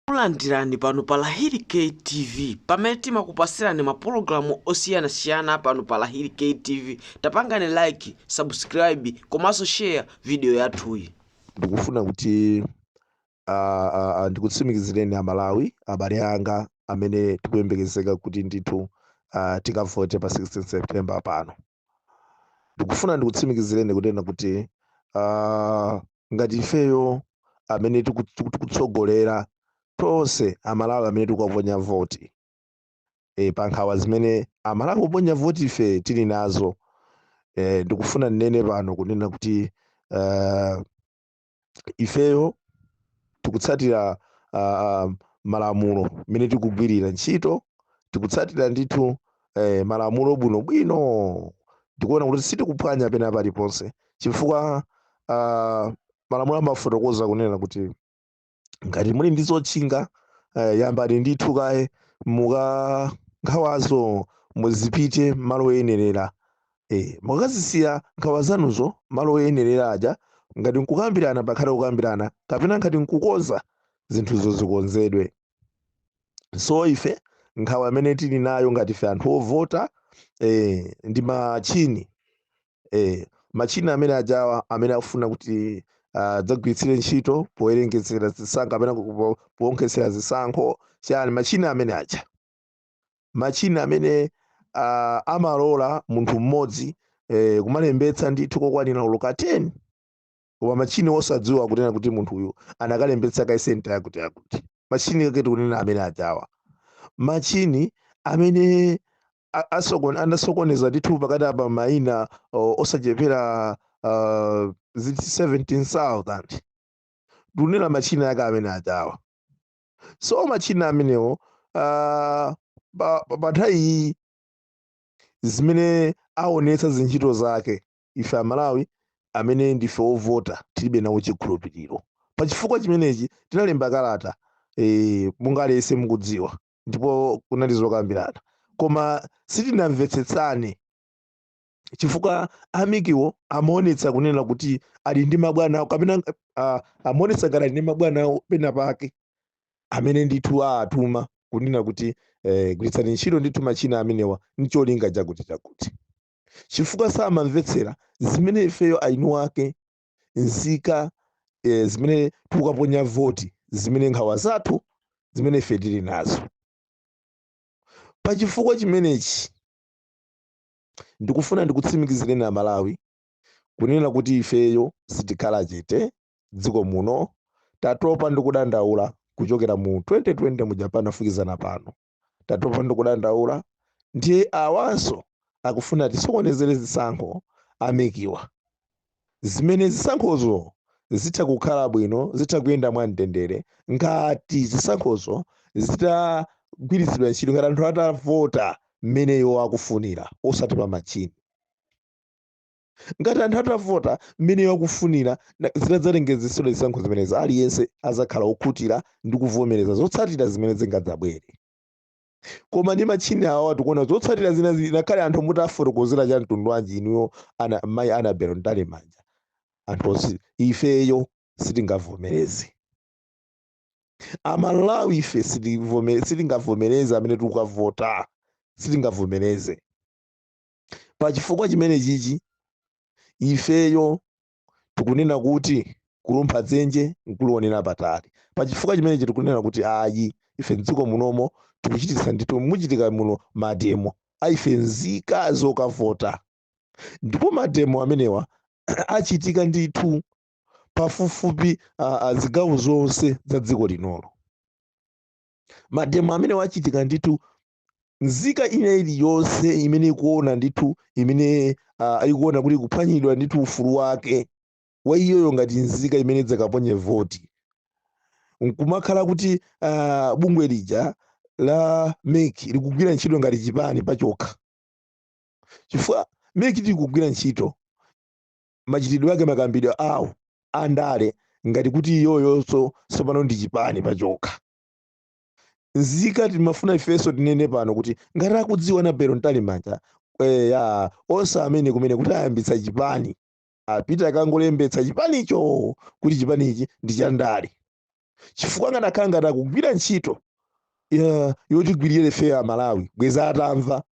Takulandirani pano pa Lahiri K TV pamene timakupasirani mapologalamu osiyanasiyana pano pa Lahiri K TV. Tapangani like, subscribe komanso share video yathuyi. ndikufuna kuti ah, ah, ah, ndikutsimikizireni aMalawi abale anga amene tikuyembekezeka kuti ndithu ah, tikavote pa 16 September pano ndikufuna ndikutsimikizireni kunena kuti ah, ngati ifeyo amene tiku- tiku- tikutsogolera tonse aMalawi amene tikukaponya voti e, pa nkhawa zimene aMalawi oponya voti ife tili nazo e, ndikufuna ndinene pano kunena kuti ah, ifeyo tikutsatira uh, malamulo mmene tikugwirira ntchito tikutsatira ndithu eh, malamulo bwinobwino ndikuona kuti sitikuphwanya pena paliponse chifukwa uh, malamulo amafotokoza kunena kuti ngati muli ndi zotchinga eh, yambani ndithu kaye mu nkhawazo muzipita malo oyenerera Eh, mukazisiya nkhawa zanuzo malo oyenerera aja, ngati nkukambirana pakhale kukambirana, kapena ngati nkukonza, zinthuzo zikonzedwe. So ife nkhawa amene tili nayo ngati ife anthu ovota eh, ndi matchini eh, matchini amene ajawa amene akufuna kuti adzagwiritsire ntchito powerengetsera zisankho kapena ku- po- poonkhetsera zisankho chani matchini amene aja matchini amene uh, amalola munthu mmodzi eh, kumalembetsa ndithu kokwanira oloka 10 koma matchini osadziwa kunena kuti munthu uyu anakalembetsa kale senta yakuti yakuti matchini ake tikunena amene ajawa matchini amene a- asokon- anasokoneza ndithu pakati apa maina o- osachepera uh, 17000 tikunena matchini ake amene ajawa so matchini amenewo uh, pa, pa, pa nthawi iyi zimene aonetsa zintchito zake ife aMalawi amene ndife ovota tilibe nawo chikhulupiriro pa chifukwa chimenechi tinalemba kalata e, monga aliyense mukudziwa ndipo kunali zokambirana koma sitinamvetsetsane chifukwa a MEC-wo amaonetsa kunena kuti ali ndi mabwana awo kapena uh, amaonetsa ngati ali ndi mabwana awo pena pake amene ndithu awatuma kunena kuti eh, gwiritsani ntchito ndithu machina amenewa ncholinga chakuti chakuti chifukwa samamvetsera zimene ifeyo eni ake nzika eh, zimene tikukaponya voti zimene nkhawa zathu zimene ife tili nazo pa chifukwa chimenechi Ndikufuna ndikutsimikizireni a Malawi kunena kuti ifeyo sitikhala chete dziko muno tatopa ndi kudandaula kuchokera mu 2020 muja mpaka kufikana pano tatopa ndi kudandaula ndiye awanso akufuna atisokonezere zisankho a MEC-wa zimene zisankhozo zitha kukhala bwino zitha kuyenda mwa mtendere ngati zisankhozo zitagwiritsidwa ntchito ngati anthu atavota mmene iwo akufunira osati pa machini ngati anthu atavota mmene iwo akufunira zitadzalengezetsedwa zisankho zimenezi aliyense azakhala okhutira ndi kuvomereza zotsatira zimene zingadzabwere koma ndi matchini awa tikuona zotsatira zina zili ngakhale anthu mutafotokozera cha mtundu wanji inuyo ana mayi Annabel Mtalimanja anthu osi ifeyo sitingavomereze amalawi ife sitivome- sitingavomereze amene tikukavota sitingavomereze pa chifukwa chimene chichi ifeyo tikunena kuti kulumpha dzenje nkulionera patali pa chifukwa chimenechi tikunena kuti ayi ife mdziko munomo tikuchititsa ndithu muchitika muno mademo a ife nzika zokavota ndipo mademo amenewa achitika ndithu pafupifupi ah, ah, zigawo zonse za dziko linolo mademo amenewa achitika ndithu nzika ina iliyonse imene ikuona ndithu imene uh, ikuona kuti kuphwanyidwa ndithu ufulu wake wa iyoyo ngati nzika imene idzakaponye voti nkumakhala kuti uh, bungwe lija la MEC likugwira ntchito ngati chipani pachokha chifukwa MEC likugwira ntchito machitidwe ake makambidwe awo andale ngati kuti iyoyonso tsopano ndi chipani pachokha nzika timafuna ifenso tinene pano kuti ngati akudziwa Annabel Mtalimanja eh, ya onse amene kumene kuti ayambitsa chipani apita akangolembetsa chipanicho kuti chipanichi ndi chandale chifukwa akanakhala ngati akugwira ntchito ya- yotigwirira ifeyo a malawi bweza atamva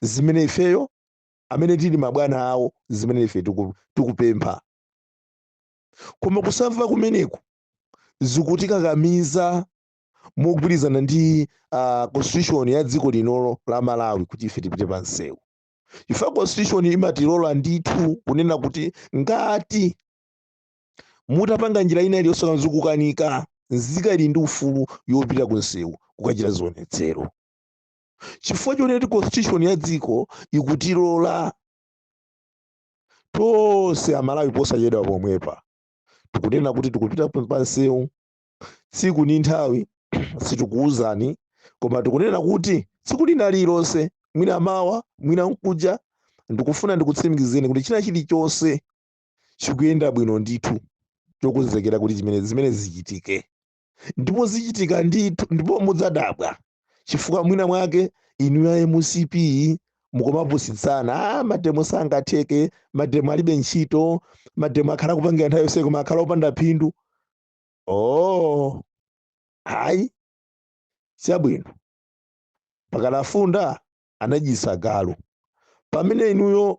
zimene ifeyo amene tili mabwana awo zimene ife tiku- tikupempha koma kusamva kumeneku zikutikakamiza mogwirizana ndi uh, constitution ya dziko linolo la malawi kuti ife tipite pa msewu chifukwa constitution imatilola ndithu kunena kuti ngati mutapanga njira ina iliyonse koma zikukanika nzika ili ndi ufulu yopita ku msewu kukachita zionetsero chifukwa choneti constitution ya dziko ikutilola tonse amalawi posachedwa pomwepa tikunena kuti tikupita pa msewu tsiku ndi nthawi sitikuwuzani koma tikunena kuti tsiku lina lililonse mwina mawa mwina mkuja ndikufuna ndikutsimikizeni kuti china chilichonse chikuyenda bwino ndithu chokonzekera kuti chimene zimene zichitike ndipo zichitika ndithu ndipo mudzadabwa chifukwa mwina mwake inu ya mcp mukumapusitsana ah, mademo sangatheke mademo alibe ntchito mademo akhala akupangidwa nthawi yonse koma akhala opanda phindu oh hayi chabwino pakadafunda anadyitsa galu pamene inuyo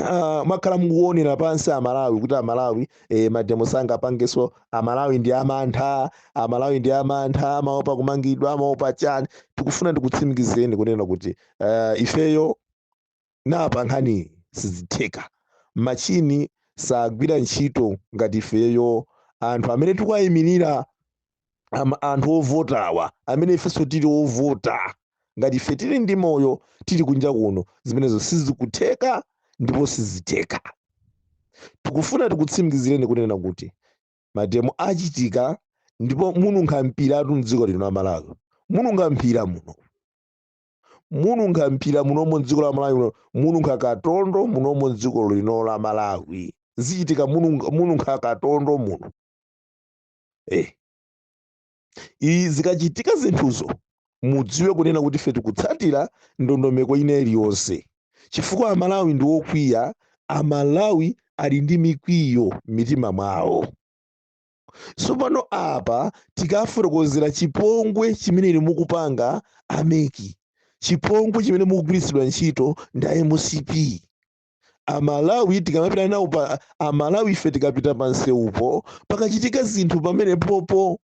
ah, mwakhala mukuonera pansi amalawi kuti amalawi eh, mademo sangapangeso amalawi ndi amantha amalawi ndi amantha amaopa kumangidwa amaopa chani tikufuna ndikutsimikizeni kunena kuti ah, ifeyo napa nkhani sizitheka machini sagwira ntchito ngati ifeyo anthu amene tikuwayimirira ama- anthu ovotawa amene ifenso tili ovota ngati ife tili ndi moyo tili kunja kuno zimenezo sizikutheka ndipo sizitheka tikufuna tikutsimikizireni kunena kuti mademo achitika ndipo mununkha mpiratu mdziko lino la malawi mununkha mpira muno mununkha mpira munomo mdziko la malawi muno mununkha katondo munomo mdziko lino la malawi zichitika mununga- mununkha katondo muno eh. Izi zikachitika zinthuzo mudziwe kunena kuti ife tikutsatira ndondomeko ina iliyonse chifukwa amalawi ndi okwiya amalawi ali ndi mikwiyo m'mitima mwawo tsopano apa tikafotokozera chipongwe chimene inu mukupanga ameki chipongwe chimene mukugwiritsidwa ntchito ndi a mcp amalawi tikamapita nawo pa amalawi ife tikapita pa msewupo pakachitika zinthu pamene popo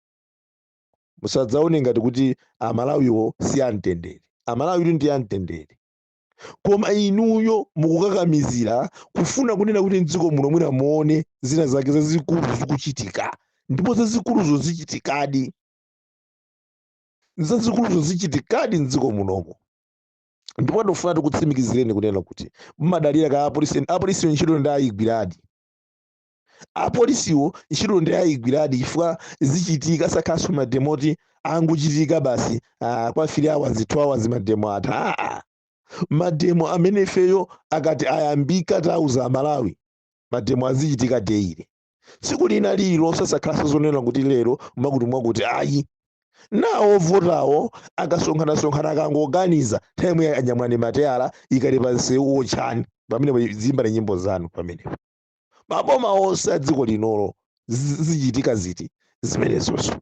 musadzaone ngati kuti amalawiwo si amtendere amalawi ndi amtendere koma inuyo mukukakamizira kufuna kunena kuti mdziko muno mwina muone zina zake zazikulu zikuchitika ndipo zazikuluzo zichitikadi zazikuluzo zichitikadi mdziko munomo ndipo tikufuna tikutsimikizireni kunena kuti mumadalira ka apolisi apolisiwo ntchito ndi ayigwiradi apolisiwo ntchito ndi ayigwiradi chifukwa zichitika sakhalanso mademo oti angochitika basi ah, kwa 3 hours 2 hours mademo atha aa mademo amene ifeyo akati ayambika tauza amalawi mademo azichitika deile tsiku lina lililonse sakhalanso zonena kuti lero mwakuti mwakuti ayi nawo ovotawo akasonkhanasonkhana akangoganiza nthawi imeneyo anyamulani mateyala ikani pa msewu otchani pamenepo muziyimba nyimbo zanu pamenepo maboma onse a dziko linolo zi- zichitika ziti zimenezonso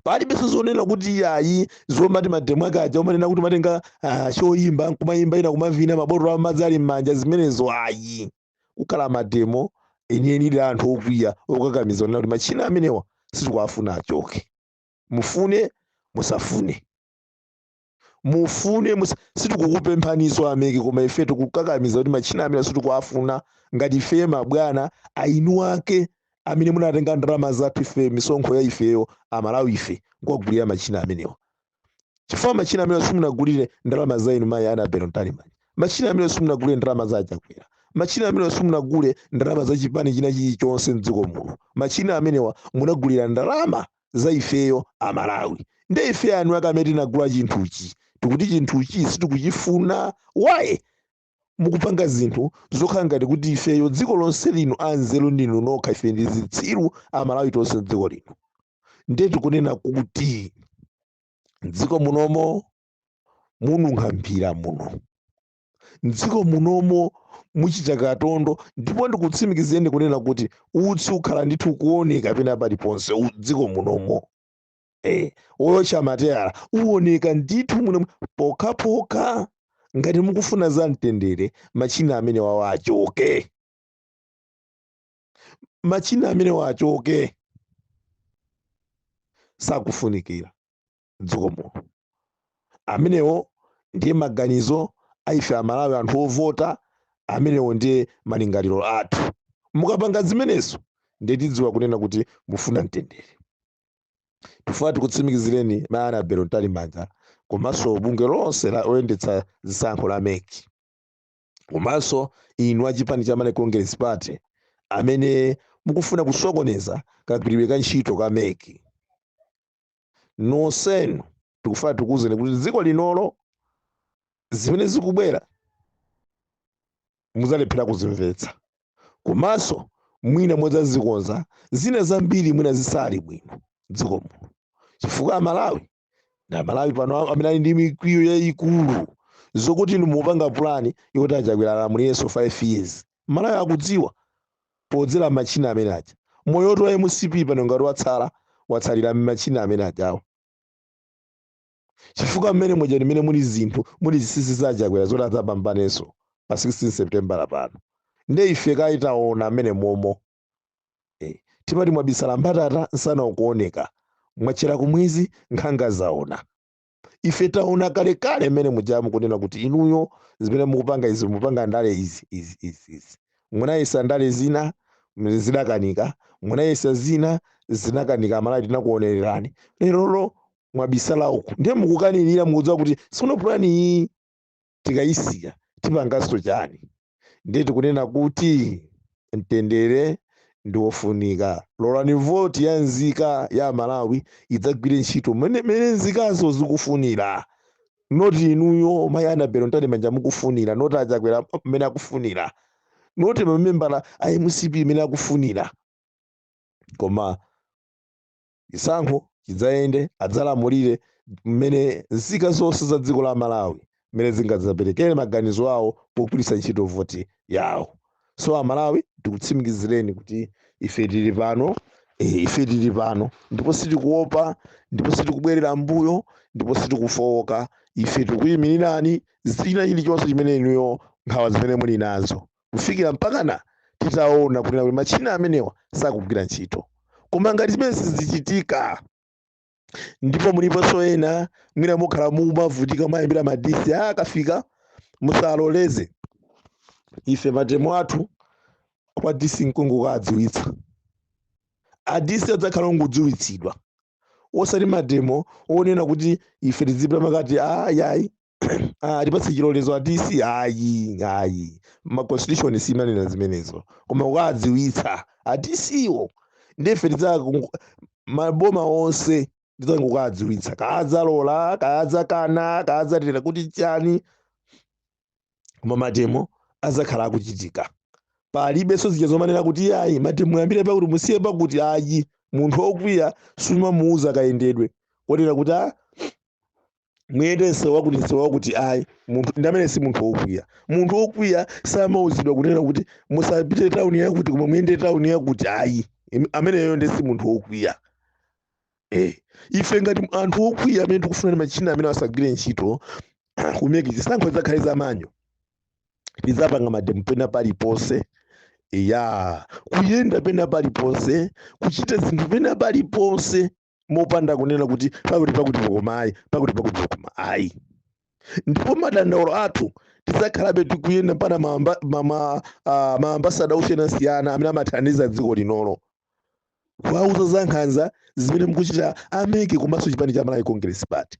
palibenso zonena kuti ayi zomati mademo aka aja umanena kuti umatenga ah, choyimba nkumayimba ena kumavina mabotolo amadzi ali m'manja zimenezo ayi kukhala mademo enieni a anthu okwiya okakamiza onena kuti machina amenewa sitikuwafuna achoke mufune musafune mufune musa- sitikukupemphaniso ameki koma ife tikukakamiza kuti matchina amene sitikuwafuna ngati ifeye mabwana eni ake amene munatenga ndalama zathu ife misonkho ya ifeyo amalawi ife nkukagulira matchina amenewa chifukwa matchina amenewa simunagulire ndalama za inu mayi anabelo mtalimanja matchina amenewa simunagulire ndalama za achakwera matchina amenewa simunagule ndalama za chipani china chilichonse mdziko muno matchina amenewa munagulira ndalama za ifeyo amalawi nde ife eni ake amene tinagula chinthuchi tikuti chinthuchi sitikuchifuna why mukupanga zinthu zokhala ngati kuti ifeyo dziko lonse lino anzeru ndinu nokha ife ndi zitsiru amalawi tonse mdziko lino nde tikunena kuti mdziko munomo mununkha mphira muno mdziko munomo muchita katondo ndipo ndikutsimikizireni kunena kuti utsi ukhala ndithu ukuoneka pena paliponse u- mdziko munomo eh, woyotcha mateyala awoneka ndithu muno pokhapokha ngati mukufuna za mtendere machina amenewawa achoke machina amenewawa achoke sakufunikira mdziko muno amenewo ndiye maganizo a ife amalawi anthu ovota amenewo ndiye malingaliro athu mukapanga zimenezo ndiye tidziwa kunena kuti mufuna mtendere tifuna tikutsimikizireni mayi anabelo mtalimanja komanso bungwe lonse loyendetsa zisankho la meki komanso inu a chipani cha malawi congress party amene mukufuna kusokoneza kagwiridwe ka ntchito ka meki nonsenu tikufuna tikuwuzeni kuti dziko linolo zimene zikubwera mudzalephera kuzimvetsa komanso mwina mudzadzikonza zina zambiri mwina zisali bwino dziko muno chifukwa amalawi ndi amalawi pano am- amene ali ndi mikwiyo yayikulu zokuti inu mupanga pulani yoti achakwera alamulirenso 5 years amalawi akudziwa podzera m'matchina amene aja. Moyo woti wa mcp pano ngati watsala, watsalira m'matchina amene ajawo. Chifukwa mmene muja ndi mmene muli zinthu, muli zinsinsi za a Chakwera zoti adzapambanenso pa 16 Sepitembala pano. Ndiye ife kale taona mmene momo. Eh, timati mwabisala mbatata nsana ukuoneka. Mwatchera kumwezi nkhanga zaona. ife taona kalekale mmene mujamu kunena kuti inuyo zimene mukupanga izi mukupanga ndale izi izi izi izi munayesa ndale zina mm, zidakanika munayesa zina zinakanika amalawi tinakuonererani lerolo mwabisala uku ndiye mukukanirira mukudziwa kuti sono pulani iyi tikayisiya tipanganso chani? Ndiye tikunena kuti mtendere ndi wofunika. Lolani voti ya nzika ya Amalawi idzagwire ntchito mmene mmene nzikazo zikufunira not inuyo mayi Annabel Mtalimanja mukufunira not a Chakwera mmene akufunira not mamembala a mcp mmene akufunira koma chisankho chidzayende adzalamulire mmene nzika zonse za dziko la malawi mmene zingadzaperekere maganizo awo pogwiritsa ntchito voti yawo so amalawi tikutsimikizireni kuti ife tili pano eh, ife tili pano ndipo sitikuopa ndipo sitikubwerera mbuyo ndipo sitikufowoka ife tikuyimirirani china chilichonse chimene inuyo nkhawa zimene muli nazo kufikira mpakana titaona kunena kuti matchina amenewa sakugwira ntchito koma ngati zimene sizichitika ndipo muliponso ena mwina mukhala mumavutika mwayimbira madisi akafika musaloleze ife mademo athu kwa disi nkungokadziwitsa adisi adzakhala ongodziwitsidwa osati mademo onena kuti ife tizipita mwakuti ayi ayi Ah, tipatse chilolezo adisi ayi ayi ma constitution simanena zimenezo koma kukadziwitsa adisiwo ndiye ife tidzaku- maboma onse tidzangokadziwitsa kadzalola kadzakana kadzatera kuti chani koma mademo azakhala akuchitika palibenso zija zomanena kuti yayi mademo yambire pakuti musiye pakuti ayi munthu wokwiya sumamuuza kayendedwe wonena kuti a muyende msewu wakuti msewu wakuti ayi munthu ndi amene si munthu wokwiya munthu wokwiya samauzidwa kunena kuti musapite tawuni yakuti koma muyende tawuni yakuti ayi Im- ameneyo ndi si munthu wokwiya eh ife ngati anthu okwiya amene tikufuna machina amene asagwire ntchito ku MEC zisankho zizakhale za manual tizapanga mademo pena paliponse ya kuyenda pena paliponse kuchita zinthu pena paliponse mopanda kunena kuti pakuti pakuti koma ayi pakuti pakuti koma ayi ndipo madandaulo athu tizakhalabe tikuyenda mpaka maambasada osiyana-siyana amene amathandiza dziko linolo kuwawuza za nkhanza zimene mukuchita a MEC komanso chipani cha malawi congress party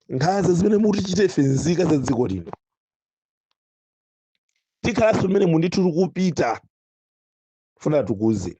nkhanza zimene mutichite ife nzika za dziko lino tikhalanso mmene mundithu tikupita funa tikuuze